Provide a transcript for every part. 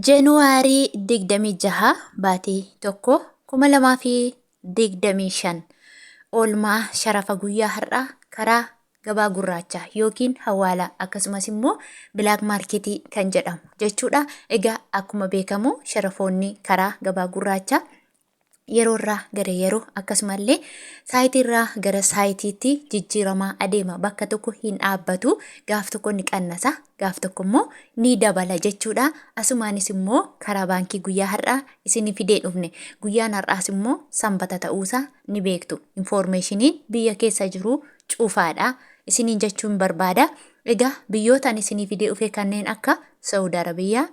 January 26 baate 1 2025 oolmaa sharafa guyyaa har'aa karaa gabaa gurraacha yookiin hawaala akkasumas immoo bilaak maarketii kan jedhamu jechuudha. Egaa akkuma beekamu sharafoonni karaa gabaa gurraacha yeroorraa gara yeroo akkasumallee saayitiirraa gara saayitiitti jijjiiramaa adeema bakka tokko hin dhaabbatu gaaf tokko ni qannasa gaaf tokko immoo ni dabala jechuudha asumaanis immoo karaa baankii guyyaa har'aa isin fidee dhufne guyyaan har'aas immoo sanbata ta'uusaa ni beektu infoormeeshiniin biyya keessa jiru cufaadha isiniin jechuun barbaada egaa biyyootaan isinii fidee dhufe kanneen akka saawud arabiyaa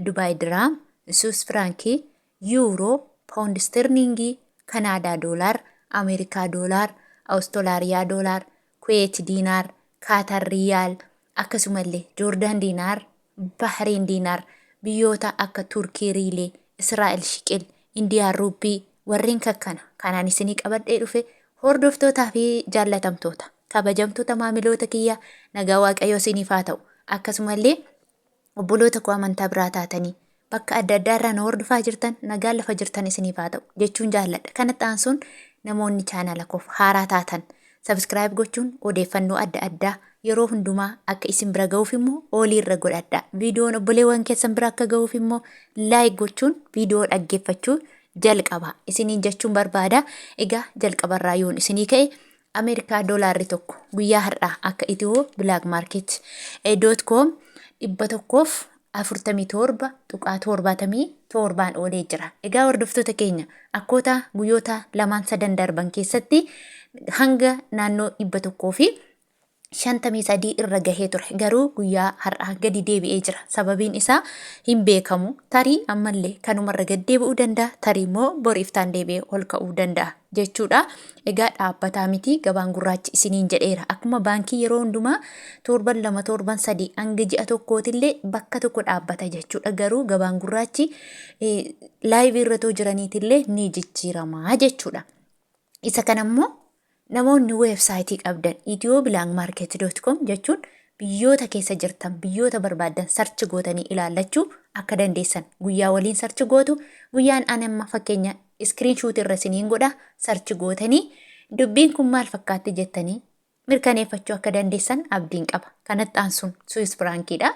dubaay diraam suus firaankii Yuuroo, Pound Isterling, Canada Dollar, America Dollar, Australia Dollar, Kuwait Dinar, Qatar Riyal, akkasumalle Jordan Dinar, Bahrain Dinar, biyyoota akka Turkey Riile, Israel Shiqil, Indian Rupee warreen kakkana kanaan isinii qabadhee dhufe hordoftootaa fi jaallatamtoota kabajamtoota maamiloota kiyya nagaa waaqayyoo isiniif haa ta'u akkasumallee obboloota koo amantaa biraa taatanii bakka adda addaa irraa na hordofaa jirtan nagaan lafa jirtan isiniif haa ta'u jechuun jaalladha. Kanatti aansuun namoonni chaanala koof haaraa taatan sabiskiraayib gochuun odeeffannoo adda addaa yeroo hundumaa akka isin bira ga'uuf immoo oolii irra godhadha. Viidiyoon obboleewwan keessan bira akka ga'uuf immoo laayik gochuun viidiyoo dhaggeeffachuu jalqaba isiniin jechuun barbaada. Egaa jalqabarraa yoon isinii ka'e Ameerikaa doolaarri tokko guyyaa har'aa akka itiyoo bilaak maarkeet doot koom dhibba tokkoof afurtamii torba tuqaa torbaatamii torbaan oolee jira. Egaa hordoftoota keenya akkoota guyyoota lamaan sadan darban keessatti hanga naannoo dhibba tokkoo fi 53 irra gahee ture garuu guyyaa har'aa gadi deebi'ee jira sababiin isaa hin beekamu tarii ammallee kanumarra gad deebi'uu danda'a tarii immoo boriiftaan deebi'ee ol ka'uu danda'a jechuudha egaa dhaabbataa miti gabaan gurraachi isiniin jedheera akkuma baankii yeroo hundumaa torban lama torban sadii hanga ji'a tokkootillee bakka tokko dhaabbata jechuudha garuu gabaan gurraachi laayivii irratoo jiraniitillee ni jijjiiramaa jechuudha isa kanammoo Namoonni weebsaayitii qabdan ethioblangmarket.com jechuun biyyoota keessa jirtan biyyoota barbaaddan sarchi gootanii ilaallachuu akka dandeessan guyyaa waliin sarchi gootu guyyaan ani amma fakkeenya iskiriin shuutii irra isiniin godha sarchi gootanii dubbiin kun maal fakkaatti jettanii mirkaneeffachuu akka dandeessan abdiin qaba kanatti aansuun suis firaankiidha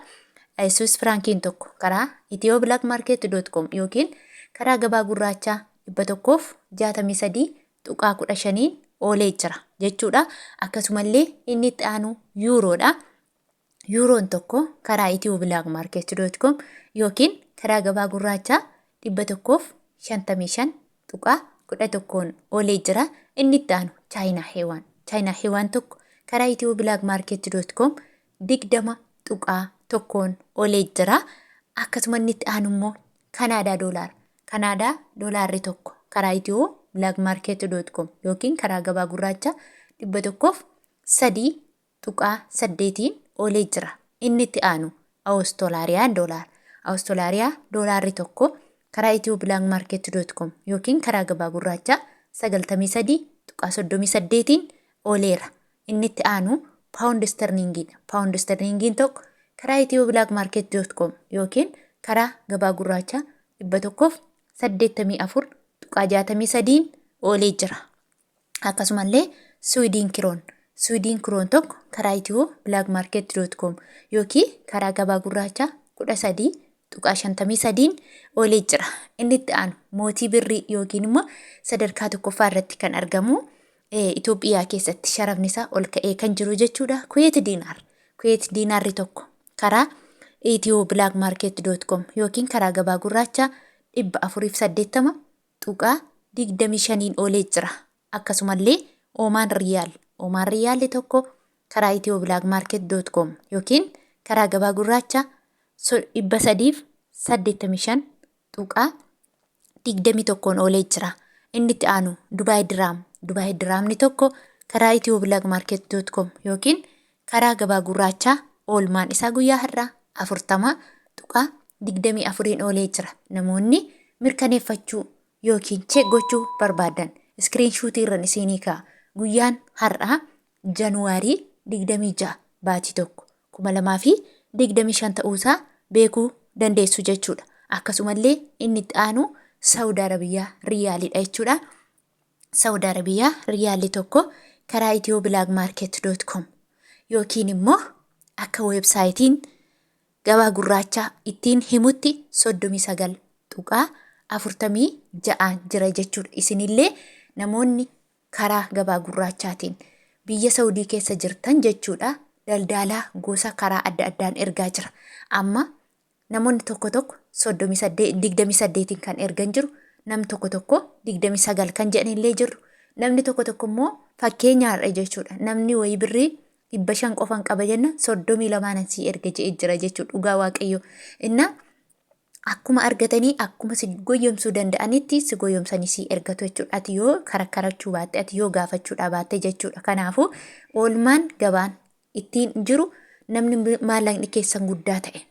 suis firaankiin tokko karaa ethioblangmarket.com yookiin karaa gabaa gurraachaa dhibba tokkoof jaatamii sadii tuqaa 15n oolee jira jechuudha. Akkasumallee inni itti aanu yuuroodha. Yuuroon tokko karaa Itiyoo Bilaak Maarkeet doot koom yookiin karaa gabaa gurraachaa 155 tuqaa 11n oolee jira. Inni itti aanu Chaayinaa Heewaan. Chaayinaa Heewaan tokko karaa Itiyoo Bilaak Maarkeet doot koom 20.1n olee jira. Akkasuma inni itti aanu immoo Kanaadaa doolaara. Kanaadaa doolaarri tokko karaa Itiyoo Black Market dot com yookiin karaa gabaa gurraacha 103.8n olee jira. Inni itti aanu Awustolaariyaan doolaara. Awustolaariyaa doolaarri tokko karaa Itiyoo Black Market dot com yookiin karaa gabaa gurraacha 93.38n oleera. Inni itti aanu Paawundi Isterliingii dha. Paawundi Isterliingiin tokko karaa ethioblagmarket.com yookiin karaa gabaa gurraachaa 184.63n oolee jira. Akkasumallee Siwiidiin Kiroon Siwiidiin Kiroon tokko karaa ethioblagmarket.com yookiin karaa gabaa gurraachaa tuqaa 53n olee jira. Inni itti aanu mootii birrii yookiin immoo sadarkaa tokkoffaa irratti kan argamu Itoophiyaa keessatti sharafni isaa ol ka'ee kan jiru jechuudha. Kuweet diinaar. Kuweet diinaarri tokko karaa Itiyoo Bilaak Maarkeet doot koom yookiin karaa gabaa gurraachaa dhibba afuriif saddeettama tuqaa digdamii shaniin olee jira. Akkasumallee Omaan Riyaal, Omaan Riyaalli tokko karaa ethioblagmarket.com yookiin karaa gabaa gurraacha 385.21n oolee jira. Inni itti aanu Dubaay Diraam, Dubaay Diraamni tokko karaa ethioblagmarket.com yookiin karaa gabaa gurraachaa oolmaan isaa guyyaa har'aa 40.24n oolee jira. Namoonni mirkaneeffachuu yookiin check gochuu barbaaddan screenshot irran isiinii kaa'a. Guyyaan har'aa January 26 baatii 1 2025 ta'uusaa beekuu dandeessu jechuudha. Akkasumallee inni itti aanu Saudi Arabia Riyaalidha jechuudha. Saudi Arabia Riyaalli tokko karaa ethioblagmarket.com yookiin immoo akka websaayitiin Gabaa Gurraachaa ittiin himutti 39.46n jira jechuudha. Isinillee namoonni karaa Gabaa Gurraachaatiin biyya Sawudii keessa jirtan jechuudha daldaalaa gosa karaa adda addaan ergaa jira. Amma namoonni tokko tokko 38 28n kan ergan jiru, nam tokko tokko 29 kan jedhanillee jiru, namni tokko tokko immoo fakkeenyaadha jechuudha. Namni wayii birrii dhibba shan qofan qaba jennaan soddomii lamaanan sii erga je'e jira jechuu dhugaa waaqayyo innaa akkuma argatanii akkuma si goyyomsuu danda'anitti si goyyomsanii si ergatu jechuudha. Ati yoo karakkarachuu baatte ati yoo gaafachuudhaa baatte jechuudha. Kanaafuu oolmaan gabaan ittiin jiru namni maallaqni keessan guddaa ta'e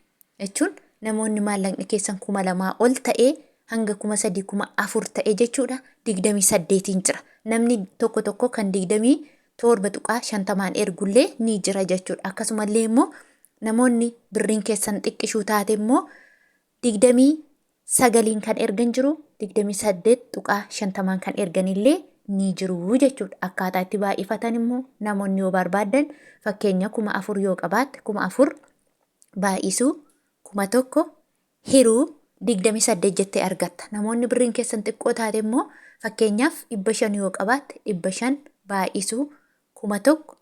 jechuun namoonni maallaqni keessan kuma lamaa ol ta'e hanga kuma sadii kuma afur ta'e jechuudha digdamii saddeetiin jira. Namni tokko tokko kan digdamii 7.50n ergullee ni jira jechuudha. Akkasumallee immoo namoonni birriin keessan xiqqishuu taate immoo 29n kan ergan jiru 28.50n kan erganillee ni jiru jechuudha. Akkaataa itti baay'ifatan immoo namoonni yoo barbaadan fakkeenya kuma afur yoo qabaatte kuma afur baay'isuu kuma tokko hiru 28 jettee argatta. Namoonni birriin keessan xiqqoo taate immoo fakkeenyaaf 500 yoo qabaatte 500 baay'isuu 1000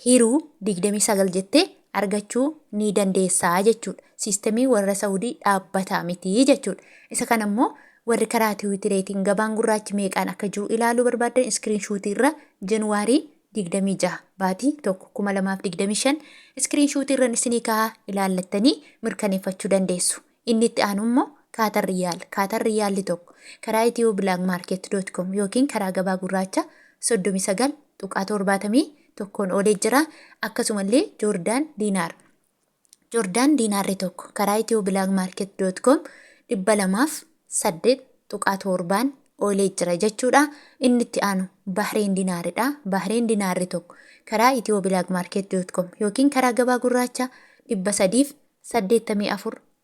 hiruu 29 jettee argachuu ni dandeessaa jechuudha. Siistemii warra Saawudii dhaabbataa miti jechuudha. Isa kana immoo warri karaa tiwiitireetiin gabaan gurraachi meeqaan akka jiru ilaaluu barbaaddan iskiriin shuutii irra Januwaarii 26 baatii 1 2025 iskiriinshuutii irran isinii kaha ilaallattanii mirkaneeffachuu dandeessu. Inni itti aanu immoo Kaatar Riyaal Kaatar Riyaalli tokko karaa ethioblagmarket.com yookiin karaa gabaa gurraacha 39.71n oolee jira. Akkasumallee Joordaan Diinaar Jordaan Diinaarri tokko karaa ethioblagmarket.com 208.7n oolee jira jechuudha. Inni itti aanu Bahreen Dinaaridha. Bahreen Dinaarri tokko karaa ethioblagmarket.com yookiin karaa gabaa gurraacha 384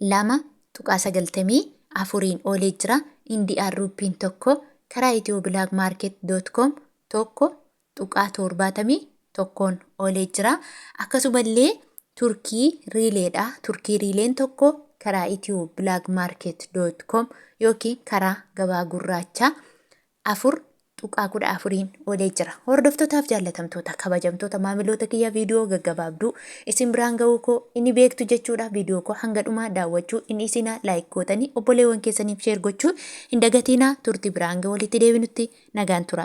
2.94n oolee jira, Indian Rupiin tokko karaa ethioblagmarket.com 1.71n oolee jira. Akkasumallee Turkii Riileedha. Turkii Riileen tokko karaa ethioblagmarket.com yookiin karaa gabaa gurraachaa 4.14n olee jira. Hordoftotaaf jaallatamtoota kabajamtoota maamiloota kiyya viidiyoo gaggabaabduu isin biraan ga'uu koo inni beektu jechuudha viidiyoo koo hanga dhumaa daawwachuu inni isinaa laayik gootanii obboleewwan keessaniif sheer gochuu hin dagatiinaa turtii biraan ga'u walitti deebinutti nagaan tura.